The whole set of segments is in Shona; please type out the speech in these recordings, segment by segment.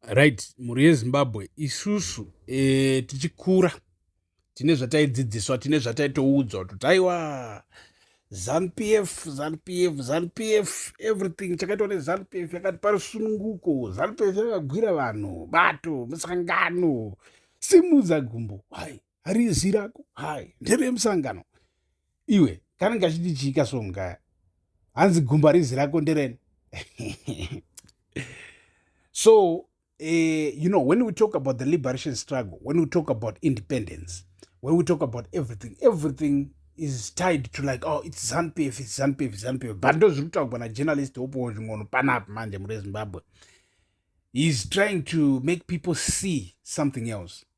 Right mhuri yeZimbabwe isusu eh, tichikura tine zvataidzidziswa tine zvataitoudzwa kuti aiwa zanupf zanupf zanupf everything chakaitwa nezanupf yakati pari sununguko zanupf yakagwira vanhu bato musangano simudza gumbo why harizi rako hai nderemusangano iwe kana ngachiti chiika so mukaya hanzi gumba rizi rako ndereni so uh, you know when we talk about the liberation struggle when we talk about independence when we talk about everything everything is tied to like oh it's zanpf it's zanpf it's zanpf but ndo zviri kutaurwa najournalist wopowo zving'ono panapa manje mure zimbabwe heis trying to make people see something else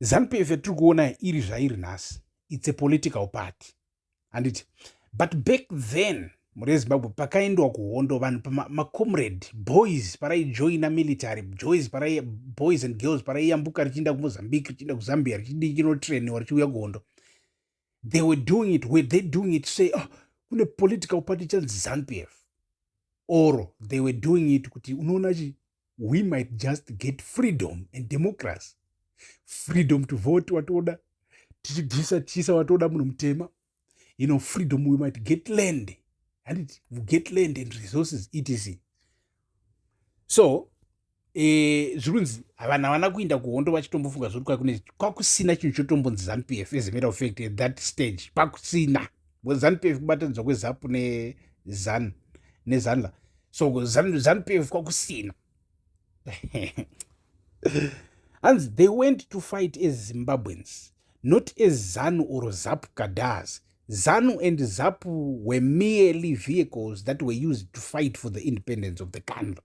zanupf yatiri kuona iri zvairi nhasi its a political party handiti but back then mhuri yezimbabwe pakaendwa kuhondo vanhu pamacomrade boys paraijoina military boys parai boys and girls paraiyambuka richiinda kumozambique richiinda kuzambia richidii chinotrainiwa richiuya kuhondo they were doing it were they doing it say oh, kune political party chanzi zanpf or they were doing it kuti unoona chi we might just get freedom and democracy freedom to vote watoda tichibvisa tichiisa watoda munhu mutema you know freedom we might get land handiti get land and resources etc so e, zvirunzi vanhu havana kuinda kuhondo vachitombofunga zvekuti kwakune kwakusina chinhu chotombonzi zanupf as a matter of fact at that stage kwakusina because zanupf kubatanidzwa kwezapu nezan nezanla so zanupf kwakusina hanzi they went to fight as zimbabweans not as zanu or zap kadas zanu and zapu were merely vehicles that were used to fight for the independence of the country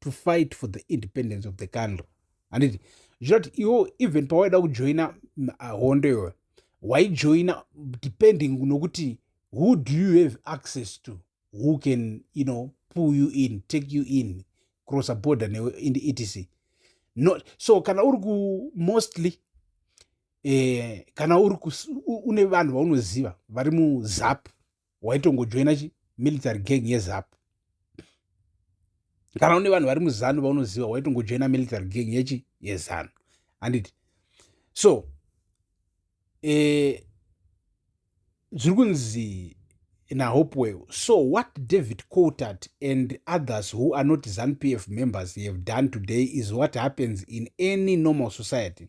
to fight for the independence of the country handiti zvinoti iwo even pawaida kujoina mm, ah, hondo iyoyo waijoina depending nokuti who do you have access to who can you know pull you in take you in cross a border newe in etc no so kana uri ku mostly eh, kana uri une vanhu vaunoziva vari muzap waitongojoina chi military gang yezap kana une vanhu vari muzanu vaunoziva waitongojoina military gang yechi yezanu handiti so eh, zviri eh, kunzi nahopewell so what david cotart and others who are not zanupf members have done today is what happens in any normal society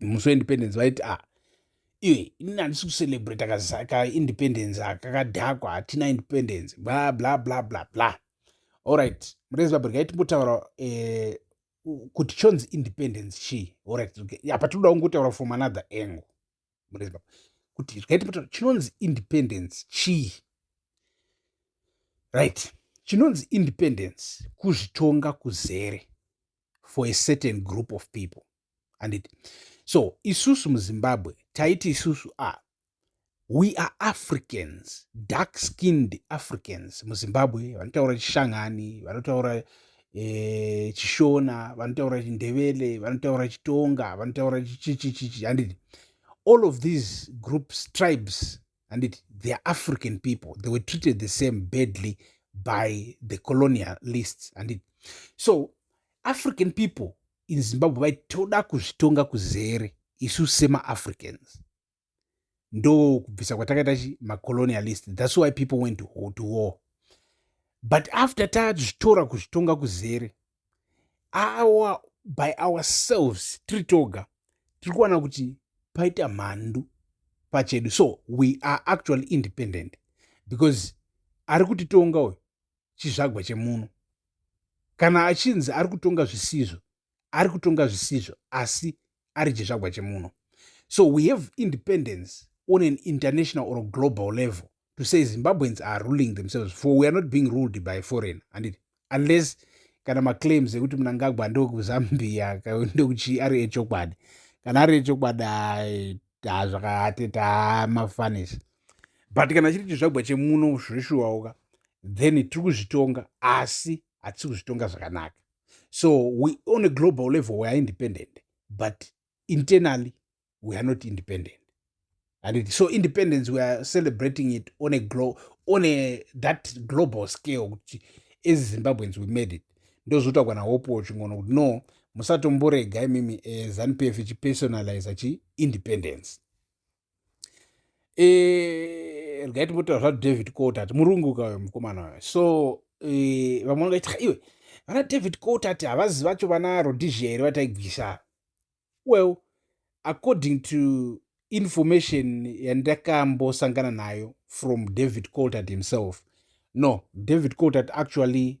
musi weindependence vaiti a ah, iwe ini handisi kucelebrate kaindependence aka kadhakwa hatina independence bla bla bla bla bla allright murezimbabwe regai timbotaura eh, kuti chonzi independence chii allright apa tinoda kungotaura from another angle murezimbabwe kuti regai timbotaura chinonzi independence chii right chinonzi independence kuzvitonga kuzere for a certain group of people handiti so isusu muzimbabwe taiti isusu a ah, we are africans dark skinned africans muzimbabwe vanotaura chishangani vanotaura e, chishona vanotaura chindevele vanotaura chitonga vanotaura chichichichichi handiti all of these groups tribes handiti they are african people they were treated the same badly by the colonialists handiti so african people in zimbabwe vai toda kuzvitonga kuzere isu semaafricans ndo kubvisa kwatakaita chi macolonialist thats why people went to, to war but after tazvitora kuzvitonga kuzere our by ourselves tiri toga tiri kuwana kuti paita mhandu pachedu so we are actually independent because ari kutitonga uyu chizvagwa chemuno kana achinzi ari kutonga zvisizvo ari kutonga zvisizvo asi ari chizvagwa chemuno so we have independence on an international or global level to say zimbabweans are ruling themselves for we are not being ruled by foreign handiti unless kana maclaims ekuti munangagwa ndokuzambia ndokuchi ari echokwadi kana ari echokwadi hazvakaateta mafanisi but kana chiri chizvagwa chemuno zveshuwauka then tiri kuzvitonga asi hatisi kuzvitonga zvakanaka so we on a global level we are independent but internally we are not independent and it, so independence we are celebrating it on a glo on a that global scale kuti as zimbabweans we made it ndozoita kwana hope wachingoona kuti no musatomborega imimi eh, zanupf ichipersonalize chiindependence e, eh, regai timbotaura zvadavid cotat murungu kauyo mukomana wayo so e, vamwe vangaita iwe vana david cotat havazi vacho vana rodizhia here vataigwisa well according to information yandakambosangana nayo from david cotat himself no david cotat actually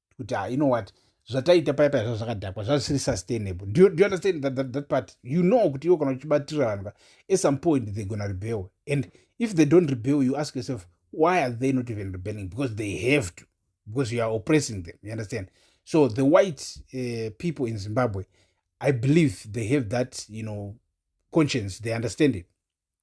kuti ah, you know what zvataita paya paya zvazvakadhakwa zvazvisiri sustainable do you, do you understand that, that, that part you know kuti iwo kana uchibatira vanhu ka at some point they gonna rebel and if they don't rebel you ask yourself why are they not even rebelling because they have to because you are oppressing them you understand so the white uh, people in zimbabwe i believe they have that you know conscience they understand it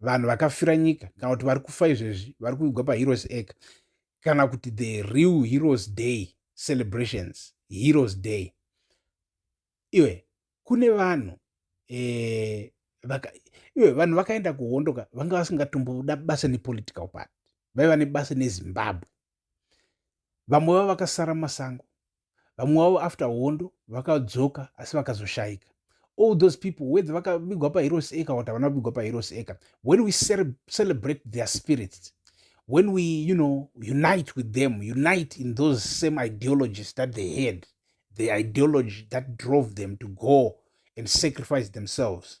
vanhu vakafira nyika kana kuti vari kufa izvezvi vari kuvigwa paheroes acre kana kuti the real heroes day celebrations heroes day iwe kune vanhu eh, vaka, iwe vanhu vakaenda kuhondo ka vanga vasingatomboda basa nepolitical party vaiva nebasa nezimbabwe vamwe vavo vakasara masango vamwe wavo after hondo vakadzoka asi vakazoshaika all those people whether vakavigwa paheroes acre or havana kuvigwa paheroes acre when we celebrate their spirits when we you know unite with them unite in those same ideologies that they had the ideology that drove them to go and sacrifice themselves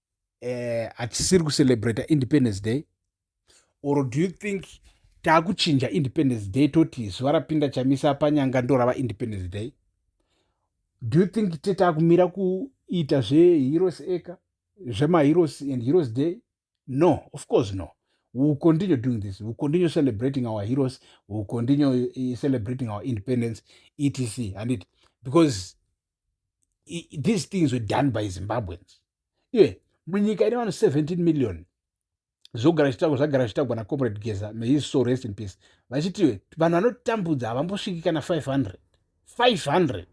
eh, hatisiri kucelebrata independence day or do you think taakuchinja independence day toti zuva rapinda chamisa panyanga ndorava independence day do you think te taakumira kuita zveheroes eka zvemaheroes and heroes day no of course no we will continue doing this we will continue celebrating our heroes we will continue eh, celebrating our independence etc handit because these things were done by zimbabweans iye munyika ine vanhu 17 million zvogara zvitagwa zvagara zvitagwa nacomrade geza mahis so rest in peace vachiti vanhu vanotambudza havambosviki kana 500 500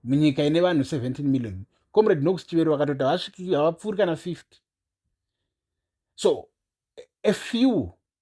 munyika ine vanhu 17 million comrade nox chivero vakatoti havapfuuri kana 50 so a few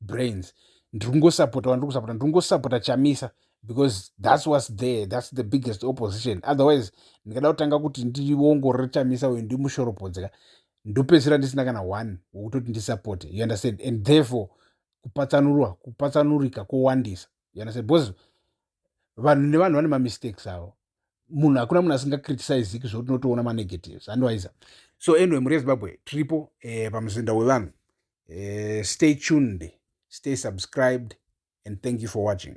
brains ndiri kungosapota wandiri kusapota ndiri kungosapota chamisa because thats was there thats the biggest opposition otherwise ndingada kutanga kuti ndiongorore chamisa uyu ndimushoropodzi ka ndopedzisira ndisina kana one wokutoti ndisapote you understand and therefore kupatsanurwa kupatsanurika kwowandisa you understand because vanhu nevanhu vane mamistakes avo munhu hakuna munhu asingacriticiziki zvekuti unotoona manegatives andiwaiza so anyway mhuri yezimbabwe tiripo eh, pamuzinda wevanhu eh, stay tuned stay subscribed and thank you for watching